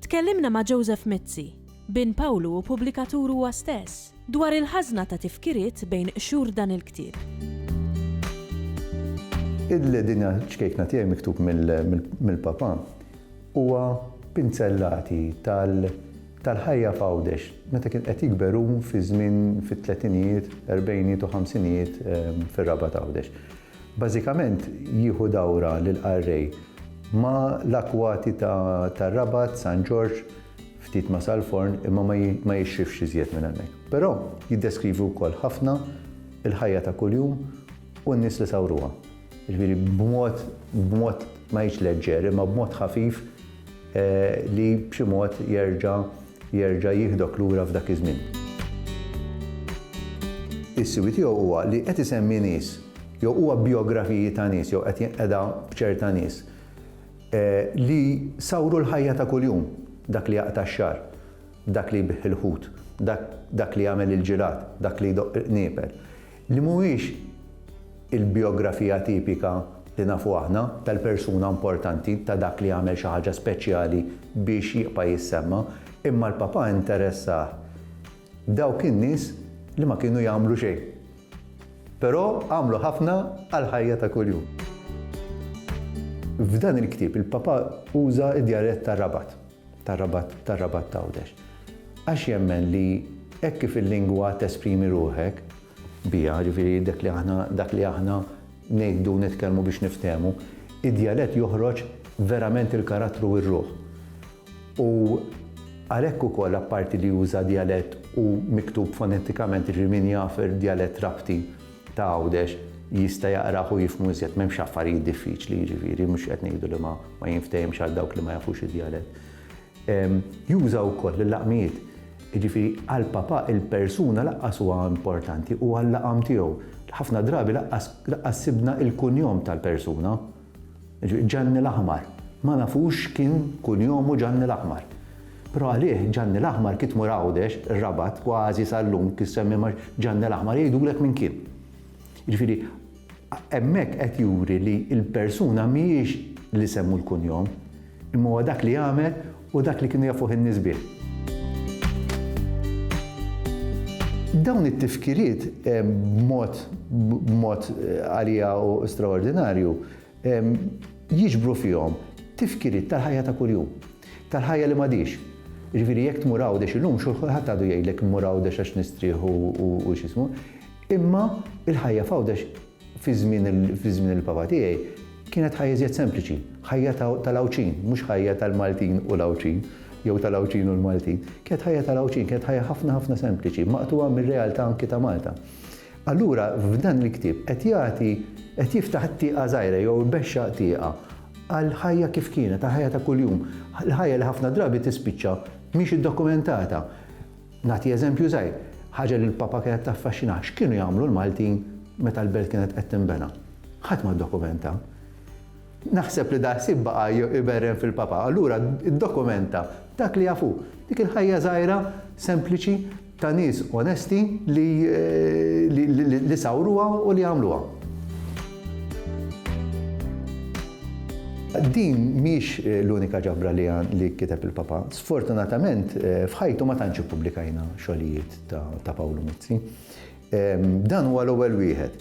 Tkellimna ma' Joseph Mizzi, bin Pawlu u pubblikatur huwa stess, dwar il-ħażna ta' tifkiriet bejn qxur dan il-ktieb. Id-li din hija ċkejkna tiegħi miktub mill-Papa huwa pinzellati tal-ħajja f'Għawdex meta kien qed jikber hu fi żmien fit-tletinijiet, erbgħinijiet u ħamsinijiet fir-Rabat Għawdex. Bażikament jieħu dawra lill-qarrej ma' l-akwati tar-Rabat, San Ġorġ, ftit ma' Salforn imma ma jixrifx iżjed minn hemmhekk. Però jiddeskrivi wkoll ħafna l-ħajja ta' kuljum u n-nies li sawruha. Jiġifieri b'mod, b'mod ma ngħidx leġġer imma b'mod ħafif li b'xi mod jerġa', jerġa' jieħdok lura f'dak iż-żmien. Is-siwi tiegħu huwa li qed isemmi nies jew huwa bjografiji ta' nies jew qed jinqeda b'ċerta nies li sawru l-ħajja ta' kuljum, dak li jaqta' x-xagħar, dak li jbigħ il-ħut, dak li jagħmel il-ġirad, dak li jdoqq il-qniepel. li mhuwiex il-bijografija tipika li nafu aħna tal-persuna importanti, ta' dak li għamel xi ħaġa speċjali biex jibqa' jissemma, imma l-Papa interessah dawk in-nies li ma kienu jagħmlu xejn, però għamlu ħafna għall-ħajja ta' kuljum. F'dan il-ktieb il-Papa uża d-djarett tar-Rabat. tar-Rabat tar-Rabat t'Għawdex. Għax jemmen li hekk kif il-lingwa tesprimi ruħek biha, jiġifieri dak li aħna dak li aħna ngħidu u nitkellmu biex niftehmu, id-djalett joħroġ verament il-karattru u r-ruħ. U għalhekk ukoll apparti li juża djalett u miktub fonetikament, jiġifieri min jaf djalett Rabti, ta' Għawdex jista' jaqrah u jifhmu iżjed, m'hemmx affarijiet diffiċli jiġifieri, mhux qed ngħidu li ma jinftehimx għal dawk li ma jafux id-djalett. Juża wkoll l-laqmijiet, jiġifieri għal Papà il-persuna lanqas huwa importanti, huwa l-laqam tiegħu. Ħafna drabi lanqas sibna l-kunjom tal-persuna. Ġanni l-Aħmar. Ma nafux x'kien kunjomu Ġanni l-Aħmar. Però għalih Ġanni l-Aħmar kif tmur Għawdex, ir-Rabat, kważi sal-lum kif semmi ma' Ġanni l-Aħmar jgħidulek minn kien. Jiġifieri hemmhekk qed juri li l-persuna mhijiex l-isem u l-kunjom, Imma huwa dak li għamel u dak li kienu jafuh in-nies bih. Dawn it-tifkiriet b'mod b'mod għalija u straordinarju jiġbru fihom tifkiriet tal-ħajja ta' kuljum, tal-ħajja li m'għadhiex. Jiġifieri jekk tmur Għawdex illum xulħadd għadu jgħidlek immur Għawdex għax nistrieħ u x'ismu, imma l-ħajja f'Għawdex Fi żmien il-Papa tiegħi kienet ħajja iżjed sempliċi, ħajja tal-Għawdxin, mhux ħajja tal-Maltin u l-Għawdxin, jew tal-Għawdxin u l-Maltin. Kienet ħajja tal-Għawdxin, kienet ħajja ħafna ħafna sempliċi, maqtugħa mir-realtà anki ta' Malta. Allura f'dan il-ktieb qed jagħti, qed jiftaħ tieqa żgħira jew ibexxaq tieqa għall-ħajja kif kienet, għall-ħajja ta' kuljum, l-ħajja li ħafna drabi tispiċċa mhix iddokumentata. Nagħti eżempju żgħir, ħaġa li l-Papa kienet taffaxxinah, x'kienu jagħmlu l-Maltin meta l-belt kienet qed tinbena? Ħadd ma ddokumenta. Naħseb li dal-ħsieb baqa' jberren fil-Papa, allura ddokumenta dak li jaf hu, dik il-ħajja żgħira sempliċi ta' nies onesti li sawruha u li għamluha. Din mhix l-unika ġabra li kiteb il-Papa. Sfortunatament, f'ħajtu ma tantx ippubblikajna xogħlijiet ta' Pawlu Mizzi. Dan huwa l-ewwel wieħed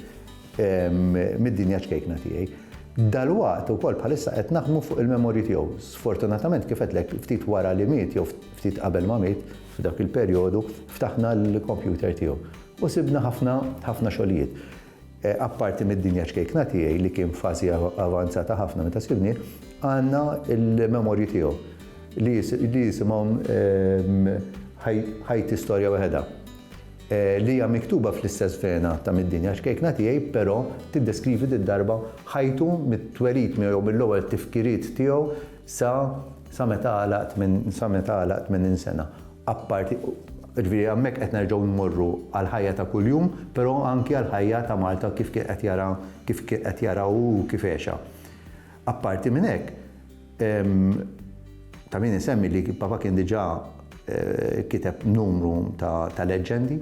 mid-dinja ċkejkna tiegħi. Dalwaqt ukoll bħalissa qed naħdmu fuq il-memorji tiegħu. Sfortunatament kif qedlek ftit wara li miet jew ftit qabel ma miet f'dak il-perjodu ftaħna l-kompjuter tiegħu u sibna ħafna ħafna xogħlijiet. Apparti mid-dinja ċkejkna tiegħi li kien f'fażi avanzata ħafna meta sibnieh, għandna l-memorji tiegħu li jisimhom Ħajti Storja Waħedha, li hija miktuba fl-istess vena ta' Mid-Dinja Ċkejkna Tiegħi però tiddeskrivi did-darba ħajtu mit-twelid miegħu jew mill-ewwel tifkiriet tiegħu sa meta għalaq 80 sena. apparti, jiġifieri hemmhekk qed nerġgħu mmorru għall-ħajja ta' kuljum, però anki għall-ħajja ta' Malta kif kien qed jara, kif kien qed jara hu u kif għexha. Apparti minn hekk, ta' min isemmi li Papa kien diġà kiteb numru ta' leġġendi,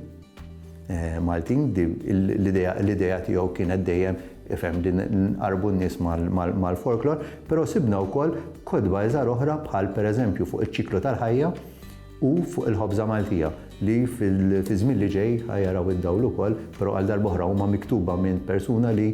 Maltin, l-idea tiegħu kienet dejjem ifhem li nqarrbu n-nies mal-folklor, però sibna wkoll kotba iżgħar oħra bħal pereżempju fuq iċ-ċiklu tal-ħajja u fuq il-ħobża Maltija li fiż-żmien li ġej ħa jaraw id-dawl ukoll, però għal darb'oħra huma miktuba minn persuna li